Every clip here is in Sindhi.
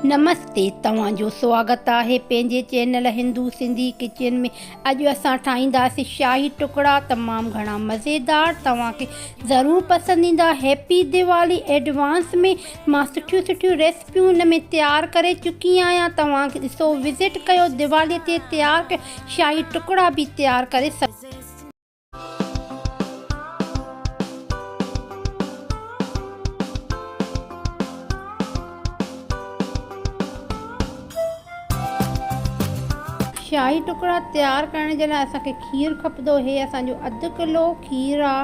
نمستي توهان جو سواگت آهي پنهنجي چينل هندو سنڌي ڪچن ۾ اڄ اسان ٺاهينداسي شاهي ٽڪڙا تمام گهڻا مزيدار توهان کي ضرور پسند ايندا هيپي ديوالي ايڊوانس ۾ مان سٺيون سٺيون ريسپيون ان ۾ تيار ڪري چڪي آهيان توهان کي ڏسو وزٽ ڪيو ديوالي تي تيار ڪيل شاهي ٽڪڙا به تيار ڪري سگهو شاهي ٽڪڙا تيار ڪرڻ جي لاء اسان کي کير کپندو هي اسان جو اڌ ڪلو کير آ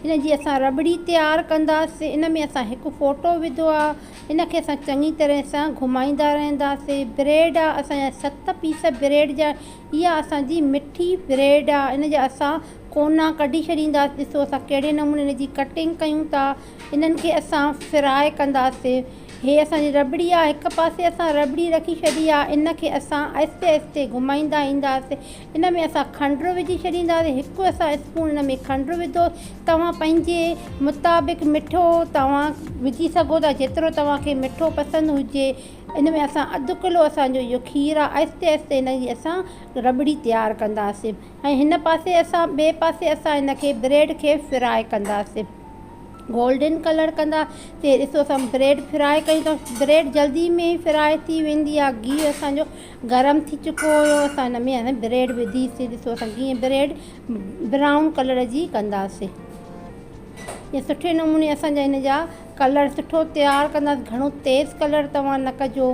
ان جي اسان رٻڙي تيار ڪنداسي ان ۾ اسان هڪ ڦوٽو وڌو آ ان کي اسان چڱي طرح سان گهمائيندا رهنداسي بريڊ آ اسان جا ست پيس بريڊ جا اها اسان جي مٺي بريڊ آ ان جا اسان ڪونا ڪڍي ڇڏينداس ڏسو اسان ڪهڙي نموني ان جي ڪٽنگ ڪيون ٿا انهن کي اسان فرائي ڪنداسي هي اسان جي رٻڙي آ هڪ پاسي اسان رٻڙي رکي ڇڏي آ ان کي اسان آهستي آهستي گهمائيندا اينداسي ان ۾ اسان کنڊر وجهي ڇڏينداسي هڪ اسان اسپون ان ۾ کنڊر وڌو توهان پنهنجي مطابق مٺو توهان وجهي سگهو ٿا جيترو توهان کي مٺو پسند هجي ان ۾ اسان اڌ ڪلو اسان جو اهو کير آهي آهستي آهستي ان جي اسان رٻڙي تيار ڪنداسين ۽ هن پاسي اسان ٻئي پاسي اسان ان کي بريڊ کي فراء ڪنداسين گولڊن ڪلر ڪندا سي ڏسو اسان بريڊ فراء ڪيون ته بريڊ جلدي ۾ ئي فراء ٿي ويندي آهي گيهه اسان جو گرم ٿي چڪو هيو اسان ان ۾ بريڊ وڌي سي ڏسو اسان ڪيئن بريڊ برائون ڪلر جي ڪنداسين ۽ سٺي نموني اسان جا ان جا ڪلر سٺو تيار ڪنداس گهڻو تيز ڪلر توهان نه ڪجو.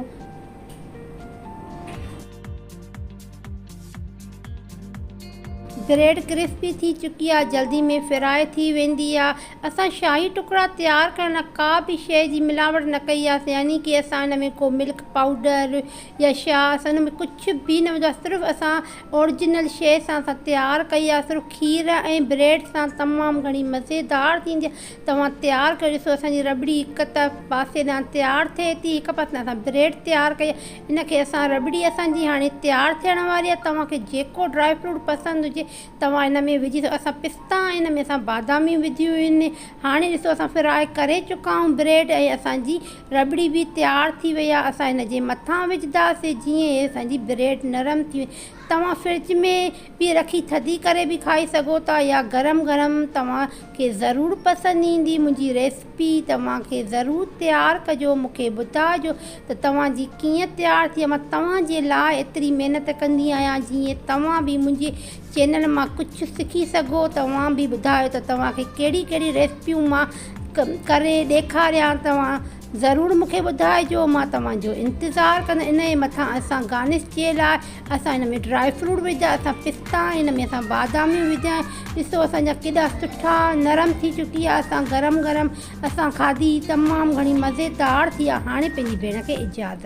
بريڊ ڪرسپي ٿي چڪي آ جلدي ۾ فرائي ٿي ويندي آ اسان شاهي ٽڪڙا تيار ڪرڻ لاء ڪا به شئي جي ملاوٽ نه ڪئي آ يعني ڪي اسان ان ۾ ڪو ملڪ پائوڊر يا شا اسان ان ۾ ڪجهه به نه وجهو آ صرف اسان اورجنل شئي سان اسان تيار ڪئي آ صرف کير ۽ بريڊ سان تمام گهڻي مزيدار ٿيندي آ توهان تيار ڪيو ڏسو اسان جي رٻڙي هڪ پاسي ڏانهن تيار ٿئي ٿي هڪ پاسي ڏانهن اسان بريڊ تيار ڪئي آهي ان کي اسان رٻڙي اسان جي هاڻي تيار ٿيڻ واري آهي توهان کي جيڪو ڊرائي فروٽ پسند هجي توهان ان ۾ وجهي سگهو اسان پستا ۽ ان ۾ اسان باداميون وڌيون آهن هاڻي ڏسو اسان فرائي ڪري چڪا آهيون بريڊ ۽ اسان جي رٻڙي به تيار ٿي وئي آهي اسان هن جي مٿان وجهنداسين جيئن هي اسان جي بريڊ نرم ٿي وڃي توهان فرج ۾ پي رکي ٿڌي ڪري به کائي سگهو ٿا يا گرم گرم توهان کي ضرور پسند ايندي منهنجي ريسپي توهان کي ضرور تيار ڪجو مونکي ٻڌائجو ته توهان جي ڪيئن تيار ٿئي مان توهان جي لاء ايتري محنت ڪندي آهيان جيئن توهان به منهنجي چينل مان ڪجهه سکي سگهو توهان به ٻڌايو ته توهان کي ڪهڙي ڪهڙي ريسپيون مان ڪري ڏيکاريان توهان ضرور مون کي ٻڌائجو مان توهان جو انتظار ڪندس ان جي مٿان اسان گارنش جي لاء اسان هن ۾ ڊرائي فروٽ وجهيا اسان پستا ۽ هن ۾ اسان باداميون وجهيا آهن ڏسو اسان جا ڪيڏا سٺا نرم ٿي چڪي آهي اسان گرم گرم اسان کاڌي تمام گهڻي مزيدار ٿي آهي هاڻي پنهنجي ڀيڻ کي اجازت.